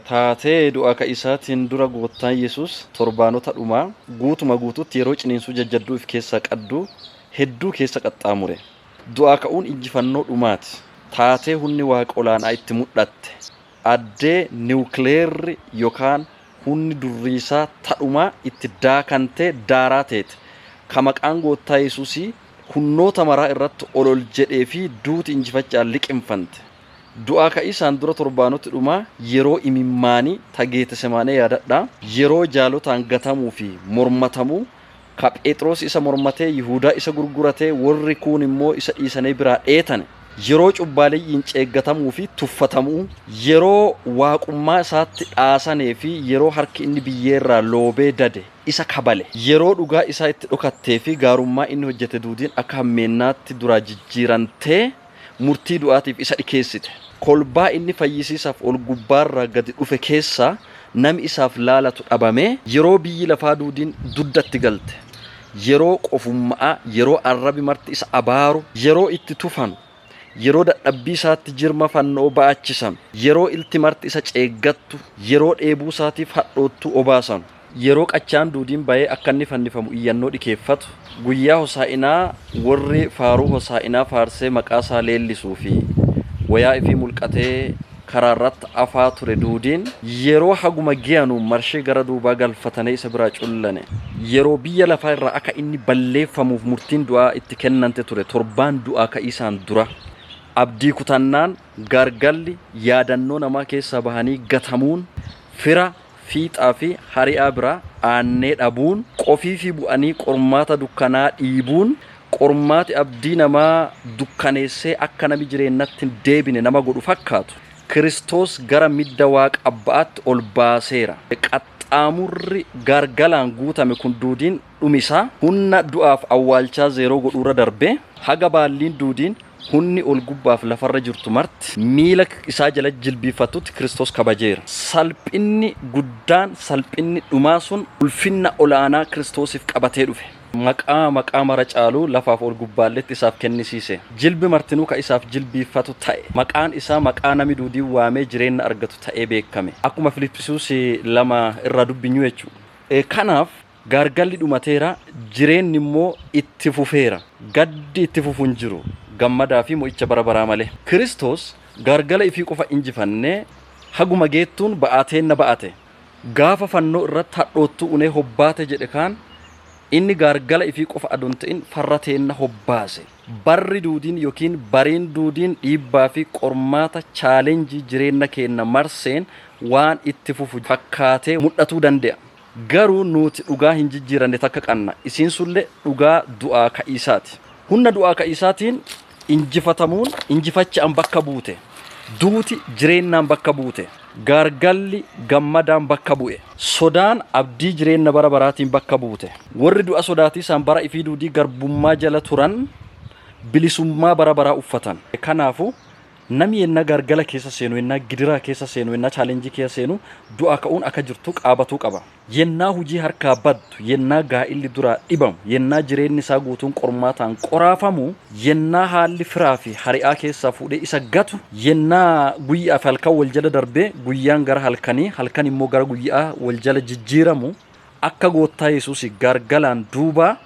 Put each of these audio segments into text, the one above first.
Taatee du'aa ka'iisaatiin dura Goottaan Yesuus torbaanota dhumaa guutuma guutuutti yeroo ciniinsuu jajjadduu if keessaa qaddu hedduu keessa qaxxaamure. Du'aa ka'uun injifannoo dhumaati. Taatee hunni Waaqa olaan'aa itti mudhatte, addee niwukileerri yokaan hunni durriisaa ta dhumaa itti daakantee daaraa teete, ka maqaan Goottaa Yesuusii hunnoota maraa irratti ol ol jedhee fi duuti injifacha'aan liqimfante. Du'aa Ka'iisaan dura torbaanoti dhumaa yeroo imimmaanii ta Geetesemaanee yaadadhaa. Yeroo jaalotaan gatamuu fi mormatamuu, ka Pheexroos isa mormatee, Yihuudaa isa gurguratee, worri kuun immoo isa dhiisanee biraa dheetane. Yeroo cubbaaleyyiin ceeggatamuu fi tuffatamu'uu. Yeroo Waaqummaa isaatti dhaasanee fi yeroo harki inni biyyee irraa loobee dade isa kabale. Yeroo dhugaa isaa itti dhokattee fi gaarummaa inni hojjate duudiin akka hammeennaatti duraa jijjiirantee. murtii du'aatiif isa dhikeessite. Kolbaa inni fayyisiisaaf ol gubbaarraa gadi dhufe keessaa nami isaaf laalatu dhabamee. Yeroo biyyi lafaa duudiin dudda itti galte, yeroo qofumma'aa, yeroo arrabi marti isa abaaru, yeroo itti tufanu, yeroo dadhabbii isaatti jirma fanno'oo ba'achisanu, yeroo ilti marti isa ceeggattu, yeroo dheebuu isaatiif hadhoottuu obaasanu, Yeroo qachaan duudiin ba'ee akka inni fannifamu iyyannoo dhikeeffatu, guyyaa hosaa'inaa worri faaruu hosaa'inaa faarsee maqaa isaa leellisuu fi woyaa ifii mulqatee karaa irratti afaa ture duudiin, yeroo haguma geyanu marshee gara duubaa galfatanee isa biraa cullane. Yeroo biyya lafaa irraa akka inni balleeffamuuf murtiin du'aa itti kennante ture torbaan du'aa ka'iisaan dura. Abdii kutannaan, gaargalli, yaadannoo namaa keessaa bahanii gatamuun, fira, Fiixaa fi hari'aa bira aannee dhabuun, qofii fi bu'anii qormaata dukkanaa dhiibuun, qormaati abdii namaa dukkaneessee akka nami jireennatti hin deebine nama godhu fakkaatu, Kiristoos gara midda Waaqa Abba'atti ol baaseera. Qaxxaamurri gaargalaan guutame kun duudiin dhumi isaa hunna du'aaf awwaalchaa zeeroo godhuurra darbee, haga baalliin duudiin, hunni ol-gubbaaf lafarra jirtu marti, miila isaa jala jilbiiffattutti Kiristoos kabajeera. Salphinni guddaan, salphinni dhumaa sun ulfinna ol'aanaa Kiristoosiif qabatee dhufe. Maqaa maqaa mara caalu lafaaf ol-gubbaalletti isaaf kennisiise. Jilbi martinuu ka isaaf jilbiiffatu ta'e. Maqaan isaa maqaa nami duudiin waamee jireenna argatu ta'ee beekkame. Akkuma Filiphisuus 2 irraa dubbinyu jechuudha. Kanaaf Gaargalli dhumateera, jireenni immoo itti fufeera. Gaddi itti fufu hin jiru, gammadaa fi mo'icha bara baraa malee. Kiristoos gaargala ifii qofa injifannee haguma geettuun ba'aa teenna ba'ate. Gaafa fannoo irratti hadhoottuu unee hobbaate jedhe kaan, inni gaargala ifii qofa adoo hin ta'in farra teenna hobbaase. Barri duudiin yookiin bariin duudiin dhiibbaa fi qormaata, challenge, jireenna keenna marseen waan itti fufu fakkaatee mudhatuu dande'a. Garuu nuuti dhugaa hin jijjiiranne takka qanna, isiin sun'llee dhugaa du'aa ka'iisaati. Hunna du'aa ka'iisaatiin injifatamuun injifacha'aan bakka buute, duuti jireennaan bakka buute, gaargalli gammadaan bakka bu'e, sodaan abddii jireenna bara baraatiin bakka buute, worri du'a sodaatiisaan bara ifii duudii garbummaa jala turan bilisummaa bara baraa uffatan. Kanaafu, Nami yennaa gaargala keessa seenu, yennaa gidiraa keessa seenu, yennaa challenge keessa seenu du'aa ka'uun akka jirtu qaabatuu qaba. Yennaa hujii harkaa baddu, yennaa gaa'illi duraa dhibamu, yennaa jireenni isaa guutuun qormaataan qoraafamu, yennaa haalli firaa fi hari'aa keessaa fuudhee isa gatu, yennaa guyya'aa fi halkan wol jala darbee guyyaan gara halkanii, halkan immoo gara guyya'aa wol jala jijjiiramu, akka goottaa Yesuus gargalaan duuba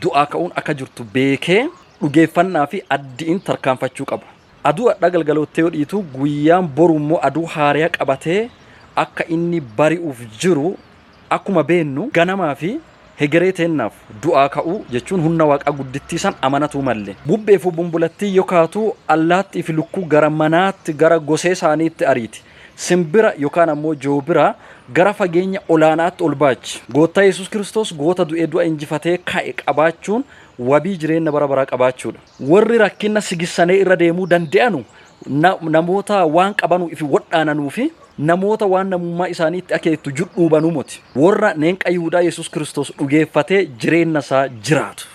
du'aa ka'uun akka jirtu beekee dhugeeffannaa fi addiin tarkaanfachuu qaba. Aduu adhaa galgaloottee yoo dhiitu guyyaan boru immoo aduu haariyaa qabatee akka inni bari'uuf jiru akkuma beennu ganamaa fi hegeree teennaaf du'aa ka'uu jechuun hunna waaqaa guddittii san amanatuu malle. Bubbee fi bumbulattii yoo kaatu allaattii fi lukkuu gara manaatti gara gosee isaaniitti ariiti. Simbira yokaan ammoo joobira gara fageenya olaanaatti ol baachi. Goottaa Yesuus Kiristoos goota du'ee du'a injifatee ka'e qabaachuun wabii jireenna bara baraa qabaachuudha. Worri rakkinna sigissanee irra deemuu dande'anu namoota waan qabanu ifi wodhaananuu fi namoota waan namummaa isaanii itti akeettu judhuubanuu moti. Worra neenqa Yihudaa Yesuus Kiristoos dhugeeffatee jireenna isaa jiraatu.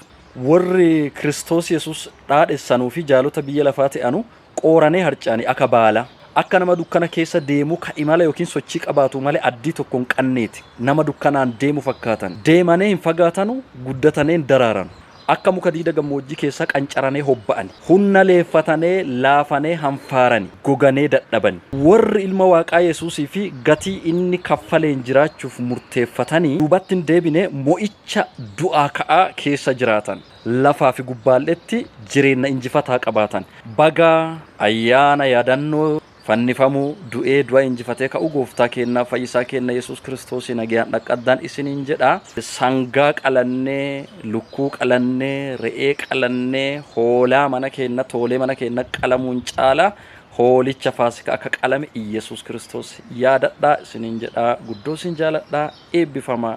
Worri Kiristoos Yesuus dhaadhessanuu fi jaalota biyya lafaa te'anu Qooranee harcaane aka baala, akka nama dukkana keessa deemuu ka imala yookiin sochii qabaatu malee addii tokko hin qanneeti. Nama dukkanaan deemu fakkaatan. Deemanee hin fagaatanu, guddatanee hin daraaranu. Akka muka diida gammoojjii keessaa qancaranee hobba'ani. Hunna leeffatanee, laafanee hanfaarani, goganee dadhabani. Worri Ilma Waaqaa Yesuusii fi gatii inni kaffaleen jiraachuuf murteeffatanii duubatti hin deebine mo'icha du'aa ka'aa keessa jiraatan. lafaa fi gubbaal'etti jireenna injifataa qabaatan. Baga ayyaana yaadannoo fannifamuu, du'ee du'a injifatee ka'uu Gooftaa keennaa Fayyisaa keenna Yesuus Kiristoosii nageyaan dhaqqaddaan isiniin jedha. Sangaa qalannee, lukkuu qalannee, re'ee qalannee, hoolaa mana keenna, toolee mana keenna qalamuun caala hoolicha faasikaa akka qalame Iyyasuus Kiristoos yaadadhaa isiniin jedha. Guddoo isin jaaladha. Eebbifamaa!